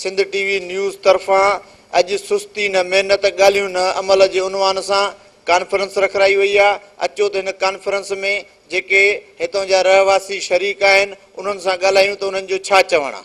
Sindh T V news طرفان اڄ سستي نه محنت ڳالهيون نه عمل جي عنوان سان ڪانفرنس رکرائي وئي آهي اچو ته هن ڪانفرنس ۾ جيڪي هتان جا رهواسي شريڪ آهن انهن سان ڳالهايون ته انهن جو ڇا چوڻ آهي.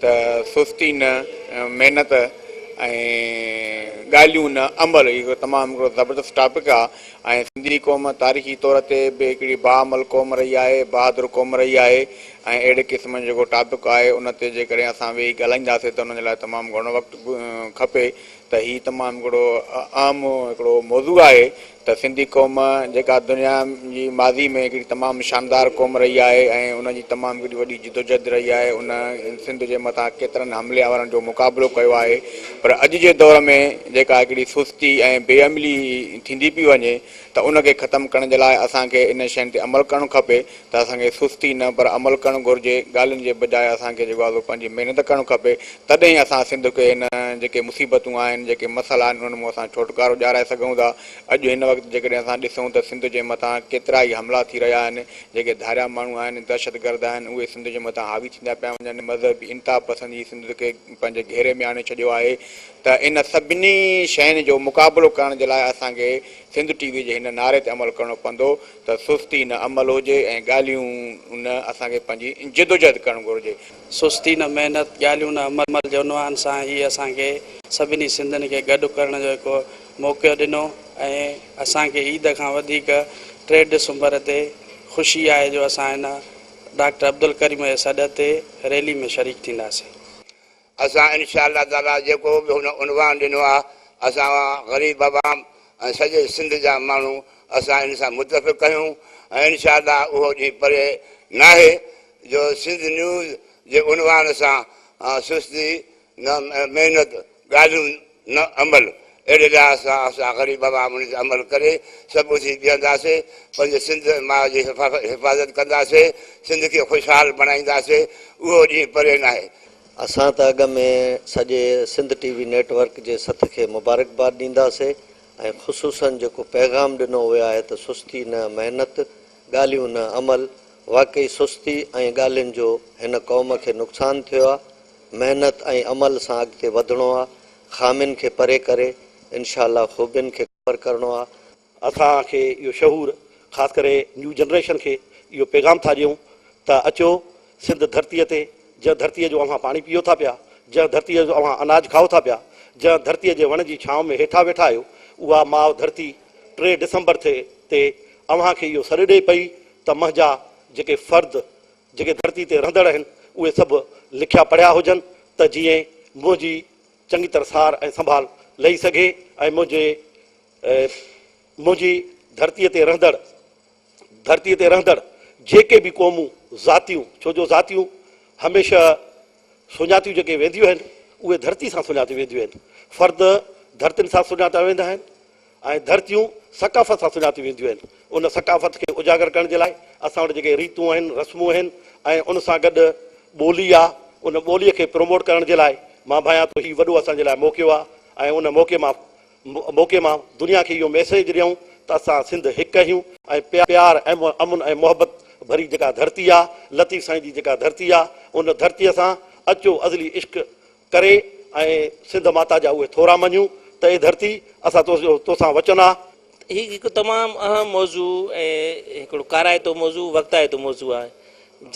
ته سستي نه محنت ۽ ڳالهيون نه عمل هي هڪڙو تمام هڪڙو زبردست ٽاپڪ آ ۽ سنڌي قوم تاريخي طور تي به هڪڙي باعمل قوم رهي آهي بهادر قوم رهي آهي ۽ اهڙي قسم جو جيڪو ٽاپڪ آهي ان تي جيڪڏهن اسان ويهي ڳالهائينداسين ته ان جي لاء تمام گهڻو وقت کپي ته هي تمام هڪڙو اهم هڪڙو موضوع آهي ته سنڌي قوم جيڪا دنيا جي ماضي ۾ هڪڙي تمام شاندار قوم رهي آهي ۽ ان جي تمام هڪڙي وڏي جدوجهد رهي آهي ان سنڌ جي مٿان ڪيترن حملي آورن جو مقابلو ڪيو آهي پر اڄ جي دور ۾ جيڪا هڪڙي سستي ۽ بي عملي ٿيندي پئي وڃي ته ان کي ختم ڪرڻ جي لاء اسان کي انهن شين تي عمل ڪرڻ کپي ته اسان کي سستي نه پر عمل ڪرڻ گهرجي، ڳالهين جي بجاء اسان کي جيڪو آهي پنهنجي محنت ڪرڻ کپي، تڏهن ئي اسان سنڌ کي هن جيڪي مصيبتون آهن، جيڪي مسئلا آهن انهن مون اسان ڇوٽڪارو ڏيارائي سگهون ٿا، اڄ هن وقت جيڪڏهن اسان ڏسون ته سنڌ جي مٿان ڪيترا ئي حملا ٿي رهيا آهن، جيڪي ڌاريا ماڻهو آهن، دهشتگرد آهن اهي سنڌ جي مٿان حاوي ٿيندا پيا وڃن، مذهبي انتها پسندي سنڌ کي پنهنجي گهيري ۾ آڻي ڇڏيو آهي ته ان سڀني شين جو مقابلو ڪرڻ جي لاء اسان کي سنڌ ٽي وي جي هن نعري تي عمل ڪرڻو پوندو ته سستي نه عمل هجي ۽ ڳالهيون نه اسان کي پنهنجي جدوجهد ڪرڻ گهرجي. سستي نه محنت، ڳالهيون نه عمل جي عنوان سان هي اسان کي سڀني سنڌين کي گڏ ڪرڻ جو هڪ موقعو ڏنو ۽ اسان کي عيد کان وڌيڪ ٽي ڊسمبر تي خوشي آهي جو اسان هن ڊاڪٽر عبدالڪريم جي سڏ تي ريلي ۾ شريڪ ٿينداسين. اسان انشاء الله تعاليٰ جيڪو به هن عنوان ڏنو آهي اسان غريب عوام ۽ سڄي سنڌ جا ماڻهو اسان ان سان متفق آهيون ۽ انشاء الله اهو ڏينهن پري ناهي جو سنڌ نيوز جي عنوان سان سستي نه محنت ڳالهيون نه عمل، اهڙي لحاظ سان اسان غريب عوام ان تي عمل ڪري سڀ اٿي بيهنداسين، پنهنجي سنڌ ۽ ماء جي حفاظت ڪنداسين، سنڌ کي خوشحال بڻائينداسين، اهو ڏينهن پري ناهي. اسان ته اڳ ۾ سڄي Sindh T V network جي سٿ کي مبارڪباد ڏينداسي ۽ خصوصن جيڪو پيغام ڏنو ويو آهي ته سستي نه محنت، ڳالهيون نه عمل، واقعي سستي ۽ ڳالهين جو هن قوم کي نقصان ٿيو آهي، محنت ۽ عمل سان اڳتي وڌڻو آ خامين کي پري ڪري انشاء الله خوبين کي ڪور ڪرڻو آ. اسان کي اهو شعور خاص ڪري نيو جنريشن کي اهو پيغام ٿا ڏيون ته اچو سنڌ ڌرتي تي جنهن ڌرتي جو اوهان پاڻي پيئو ٿا پيا جنهن ڌرتي جو اوهان اناج کائو ٿا پيا جنهن ڌرتي جي وڻ جي ڇانو ۾ هيٺا ويٺا آهيو اها ماء ڌرتي ٽي ڊسمبر تي اوهان کي اهو سڏ ڏئي پئي ته منهنجا جيڪي فرد جيڪي ڌرتي تي رهندڙ آهن اهي سڀ لکيا پڙهيا هجن ته جيئن منهنجي چڱي طرح سار ۽ سنڀال لهي سگهي ۽ منهنجي منهنجي ڌرتي تي رهندڙ ڌرتي تي رهندڙ جيڪي به قومون ذاتيون ڇو جو ذاتيون هميشه سڃاتيون جيڪي وينديون آهن اهي ڌرتي سان سڃاتيون وينديون آهن فرد ڌرتين سان سڃاتا ويندا آهن ۽ ڌرتيون ثقافت سان سڃاتيون وينديون آهن. ان ثقافت کي اجاگر ڪرڻ جي لاء اسان وٽ جيڪي ريتون آهن، رسمون آهن ۽ ان سان گڏ ٻولي آ، ان ٻوليء کي پروموٽ ڪرڻ جي لاء مان ڀانيان ٿو هي وڏو اسان جي لاء موقعو آ ۽ ان موقعي مان موقعي مان دنيا کي اهو ميسيج ڏيون ته اسان سنڌ هڪ آهيون ۽ پيار ۽ امن ۽ محبت ڀري جيڪا ڌرتي آ، لطيف سائين جي جيڪا ڌرتي آ، ان ڌرتيء سان اچو ازلي عشق ڪري ۽ سنڌ ماتا جا اهي ٿورا مڃون ته اي ڌرتي اسان تو جو تو سان وچن آ. هي هڪ تمام اهم موضوع ۽ هڪڙو ڪارائتو موضوع وقتائتو موضوع آهي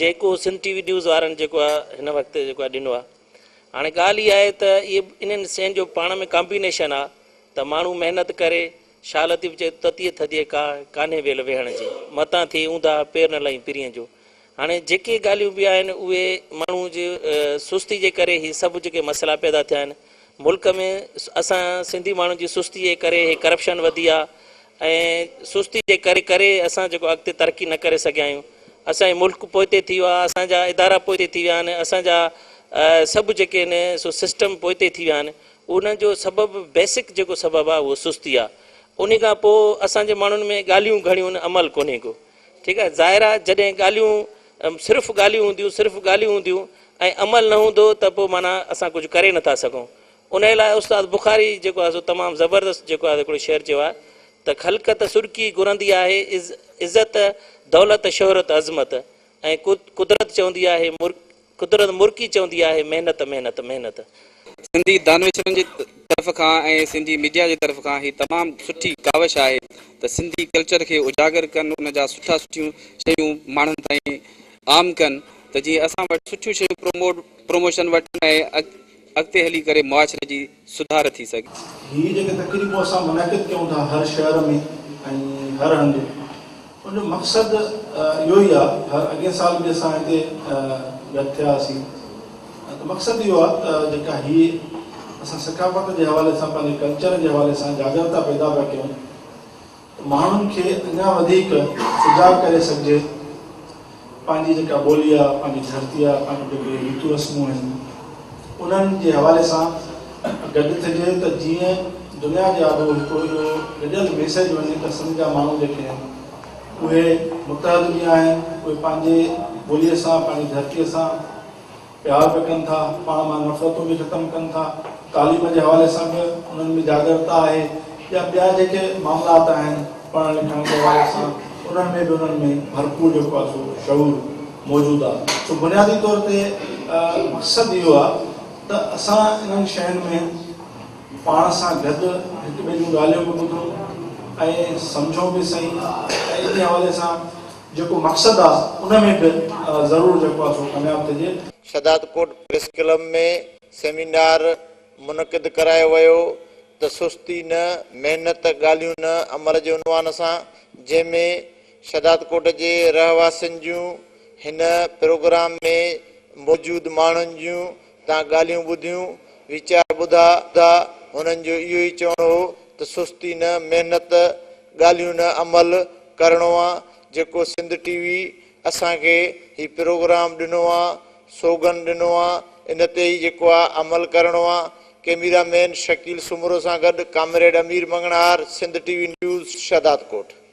جيڪو سنڌ ٽي وي نيوز وارن جيڪو آ هن وقت جيڪو آ ڏنو آ هاڻي ڳالهه اها آهي ته اهي انهن سين جو پاڻ ۾ ڪامبينيشن آ ته ماڻهو محنت ڪري شاهه لطيف چئي تتيء ٿڌيء ڪا ڪانهي ويل ويهڻ جي متان ٿئي اونداهه پير نه لهين پرينء جو هاڻي جيڪي ڳالهيون به آهن اهي ماڻهو جي سستي جي ڪري هي سڀ جيڪي مسئلا پيدا ٿيا آهن ملڪ ۾ اسان سنڌي ماڻهن جي سستي جي ڪري هي ڪرپشن وڌي آهي ۽ سستي جي ڪري ڪري اسان جيڪو اڳتي ترقي نه ڪري سگهيا آهيون اسان جي ملڪ پوئتي ٿي ويو آهي اسان جا ادارا پوئتي ٿي ويا آهن اسان جا سڀ جيڪي آهن سو سسٽم پوئتي ٿي ويا آهن انهن جو سبب بيسڪ جيڪو سبب آهي اهو سستي آهي ان کان پوء اسان جي ماڻهن ۾ ڳالهيون گهڻيون عمل ڪونهي ڪو ٺيڪ آهي ظاهر آهي جڏهن ڳالهيون صرف ڳالهيون هونديون صرف ڳالهيون هونديون ۽ عمل نه هوندو ته پوء معنيٰ اسان ڪجهه ڪري نٿا سگهون ان لاء استاد بخاري جيڪو آهي سو تمام زبردست جيڪو آهي هڪڙو شعر چيو آهي ته خلقت سرڪي گهرندي آهي عزت دولت شهرت عظمت ۽ قدرت چوندي آهي قدرت مرڪي چوندي آهي محنت محنت محنت. سنڌي دانشورن جي طرف کان ۽ سنڌي ميڊيا جي طرف کان هي تمام سٺي ڪاوش آهي ته سنڌي ڪلچر کي اجاگر ڪن ان جا سٺا سٺيون شيون ماڻهن تائين عام ڪن ته جيئن اسان وٽ سٺيون شيون پروموٽ پروموشن وٺن ۽ اڳتي هلي ڪري معاشري جي سڌار ٿي سگهي. هي جيڪي تقريبون اسان منعقد ڪيون ٿا هر شهر ۾ ۽ هر هنڌ ان جو مقصد اهو ئي آهي اڳين سال به اسان هتي گڏ ٿيا هئاسين ته مقصد اهو آهي ته جيڪا هي اسان ثقافت جي حوالي سان پنهنجي ڪلچر جي حوالي سان جاڳرتا پيدا پيا ڪيون ماڻهن کي اڃا وڌيڪ سجاڳ ڪري سگهجي پنهنجي جيڪا ٻولي آ پنهنجي ڌرتي آ پنهنجون جيڪي ريتون رسمون آهن انهن جي حوالي سان گڏ ٿجي ته جيئن دنيا جي آڏو هڪ اهو گڏيل ميسيج وڃي ته سنڌ جا ماڻهو جيڪي آهن اهي متحد به آهن اهي پنهنجي ٻولي سان پنهنجي ڌرتي سان پيار به ڪن ٿا، پاڻ مان نفرتون به ختم ڪن ٿا، تعليم جي حوالي سان به انهن ۾ جاڳرتا آهي يا ٻيا جيڪي معاملات آهن پڙهڻ لکڻ جي حوالي سان انهن ۾ به انهن ۾ ڀرپور جيڪو آهي سو شعور موجود آهي سو بنيادي طور تي مقصد اهو آهي ته اسان انهن شين ۾ پاڻ سان گڏ هڪ ٻئي جون ڳالهيون به ٻڌون ۽ سمجهون به سهي ۽ ان حوالي سان جيڪو مقصد آ ان ۾ به ضرور جيڪو آ سو ڪامياب ٿجي. ساداتڪوٽ پريس ڪلب ۾ سيمينار منعقد ڪرايو ويو ته سستي نه محنت ڳالهيون نه عمل جي عنوان سان جنهن ۾ ساداتڪوٽ جي رهواسين جون هن پروگرام ۾ موجود ماڻهن جون تان ڳالهيون ٻڌيون، ويچار ٻڌا، هنن جو اهو ئي چوڻ هو ته سستي نه، محنت، ڳالهيون نه، عمل ڪرڻو آ، جيڪو سنڌ ٽي وي اسان کي هي پروگرام ڏنو آ، سوگن ڏنو آ، ان تي ئي جيڪو آ عمل ڪرڻو آ، ڪئميرا مين شڪيل سومرو سان گڏ comrade Ameer Manganhar, Sindh T V news, Shahdadkot.